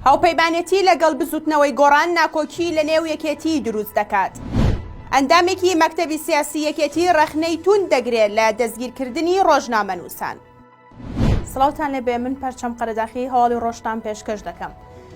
هاوپەیمانێتی لەگەڵ بزوتنەوەی گۆڕان ناکۆکی لە نێو یەکێتی دروست دەکات. ئەندامێکی مەکتەبی سیاسی یەکێتی ڕەخنەی توند دەگرێت لە دەستگیرکردنی ڕۆژنامەنووسان. سڵاوتان لێبێ من پەرچەم قەرەداخی هەواڵی ڕۆژتان پێشکەش دەکەم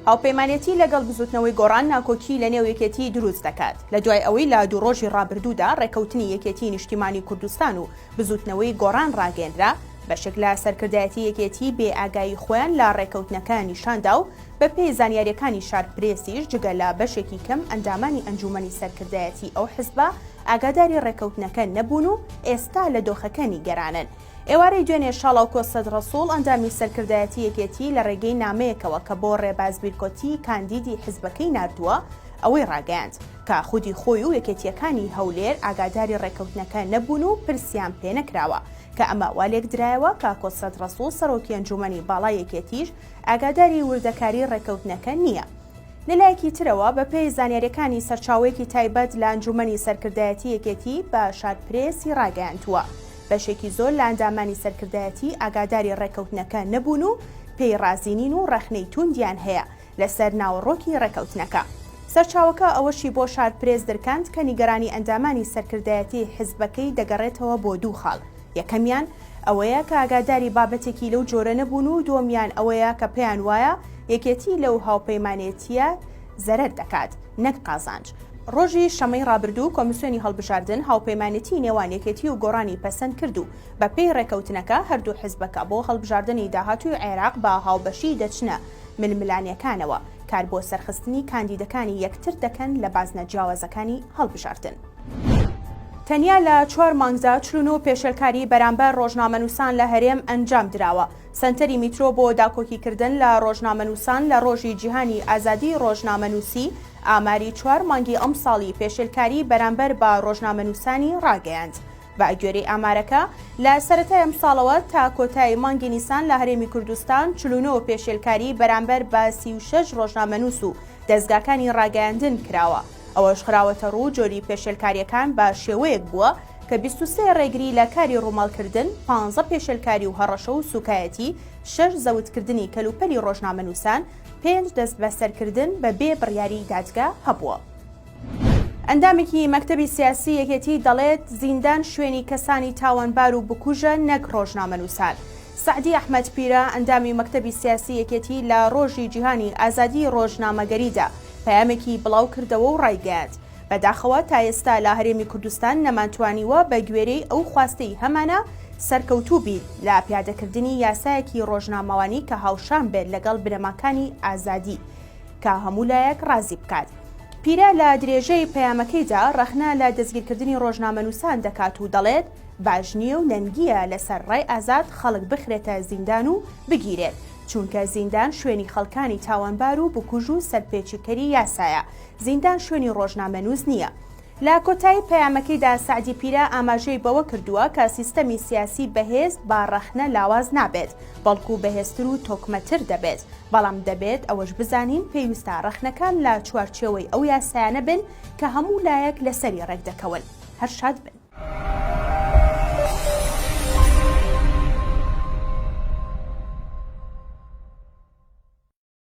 هاوپەیمانەتی لەگەڵ بزوتنەوەی گۆڕان ناکۆکی لە نێو یەکێتی دروست دەکات لە دوای ئەوەی لە دوو ڕۆژی ڕابردوودا ڕێکەوتنی یەکێتی نیشتیمانی کوردستان و بزوتنەوەی گۆڕان ڕاگەێنرا بەشێک لە سەرکردایەتی یەکێتی بێ ئاگایی خۆیان لە ڕێکەوتنەکە نیشاندا و بە پێی زانیاریەکانی شار پرێسیش جگە لە بەشێکی کەم ئەندامانی ئەنجومەنی سەرکردایەتی ئەو حزبە ئاگاداری ڕێکەوتنەکە نەبوون و ئێستا لە دۆخەکە نیگەرانن ئێوارەی دوێنێ شاڵاوکۆ سەد ڕەسوڵ ئەندامی سەرکردایەتی یەکێتی لە ڕێگەی نامەیەکەوە کە بۆ ڕێباز بیرکۆتی کاندیدی حزبەکەی ناردووە ئەوەی ڕاگەیاند کە خودی خۆی و یەکێتییەکانی هەولێر ئاگاداری ڕێککەوتنەکە نەبوون و پرسیان پێ نەکراوە کە ئەمە وا لێکدرایەوە کە کۆ سەد ڕەسوڵ سەرۆکی ئەنجوومەنی باڵای یەکێتیش ئاگاداری وردەکاری ڕێککەوتنەکە نییە. لەلایەکی ترەوە بەپێی زانیارییەکانی سەرچاوەیەکی تایبەت لە ئەنجوومەنی سەرکردایەتی یەکێتی بە شارپرێسی ڕاگەیاندووە، بەشێکی زۆر لە ئەندامانی سەرکردایەتی ئاگاداری ڕێککەوتنەکە نەبوون و پێی ڕازی نین و ڕەخنەی تووندیان هەیە لەسەر ناوەڕۆکی ڕێککەوتنەکە. سەرچاوەکە ئەوەشی بۆ شارپرێس درکاند کە نیگەرانی ئەندامانی سەرکردایەتی حزبەکەی دەگەڕێتەوە بۆ دوو خاڵ، یەکەمیان ئەوەیە کە ئاگاداری بابەتێکی لەو جۆرە نەبوون و دووەمیان ئەوەیە کە پێیان وایە یەکێتی لەو هاوپەیمانێتییە زەرەر دەکات نەک قازانج. ڕۆژی شەممەی ڕابردوو کۆمیسیۆنی هەڵبژاردن هاوپەیمانێتیی نێوان یەکێتی و گۆڕانی پەسەند کرد و بەپێی ڕێکەوتنەکە هەردوو حزبەکە بۆ هەڵبژاردنی داهاتووی عێراق بە هاوبەشی دەچنە ململانێکانەوە، کار بۆ سەرخستنی کاندیدەکانی یەکتر دەکەن لە بازنە جیاوازەکانی هەڵبژاردن. تەنیا لە چوار مانگدا چل و نۆ پێشێلکاری بەرامبەر ڕۆژنامەنووسان لە هەرێم ئەنجام دراوە. سەنتەری میترۆ بۆ داکۆکیکردن لە ڕۆژنامەنووسان لە ڕۆژی جیهانی ئازادیی ڕۆژنامەنووسی ئاماری چوار مانگی ئەمساڵی پێشێلکاری بەرامبەر بە ڕۆژنامەنووسانی ڕاگەیاند، بەگوێرەی ئامارەکە لە سەرەتای ئەمساڵەوە تا کۆتایی مانگی نیسان لە هەرێمی کوردستان چل و نۆ پێشێلکاری بەرامبەر بە سی و شەش ڕۆژنامەنووس و دەزگاکانی ڕاگەیاندن کراوە، ئەوەش خراوەتەڕوو جۆری پێشێلکارییەکان بە شێوەیەک بووە کە بیست و سێ ڕێگری لە کاری ڕووماڵکردن، پانزە پێشێلکاری و هەڕەشە و سووکایەتی، شەش زەوتکردنی کەلوپەلی ڕۆژنامەنووسان، پێنج دەستبەسەرکردن بە بێ بڕیاری دادگە هەبووە. ئەندامێکی مەکتەبی سیاسی یەکێتی دەڵێت، زیندان شوێنی کەسانی تاوانبار و بکوژە نەک ڕۆژنامەنووسان. سەعدی ئەحمەد پیرە، ئەندامی مەکتەبی سیاسی یەکێتی لە ڕۆژی جیهانی ئازادیی ڕۆژنامەگەریدا پەیامێکی بڵاوکردەوە و ڕایگەیاند، بەداخەوە تا ئێستا لە هەرێمی کوردستان نەمانتوانیوە بە گوێرەی ئەو خواستەی هەمانە سەرکەوتوو بین لە پیادەکردنی یاسایەکی ڕۆژنامەوانی کە هاوشان بێت لەگەڵ بنەماکانی ئازادی کە هەموو لایەک ڕازی بکات. پیرە لە درێژەی پەیامەکەیدا ڕەخنە لە دەستگیرکردنی ڕۆژنامەنووسان دەکات و دەڵێت، باش نییە و نەنگییە لەسەر ڕای ئازاد خەڵک بخرێتە زیندان و بگیرێت، چونکە زیندان شوێنی خەڵکانی تاوانبار و بکوژ و سەرپێچیکەری یاسایە، زیندان شوێنی ڕۆژنامەنووس نییە. لە کۆتایی پەیامەکەیدا سەعدی پیرە ئاماژەی بەوە کردووە کە سیستەمی سیاسی بەهێز با ڕەخنە لاواز نابێت، بەڵکو بەهێزتر و تۆکمەتر دەبێت، بەڵام دەبێت ئەوەش بزانین پێویستە ڕەخنەکان لە چوارچێوەی ئەو یاسایانە بن کە هەموو لایەک لەسەری ڕێکدەکەون. هەر شاد بن.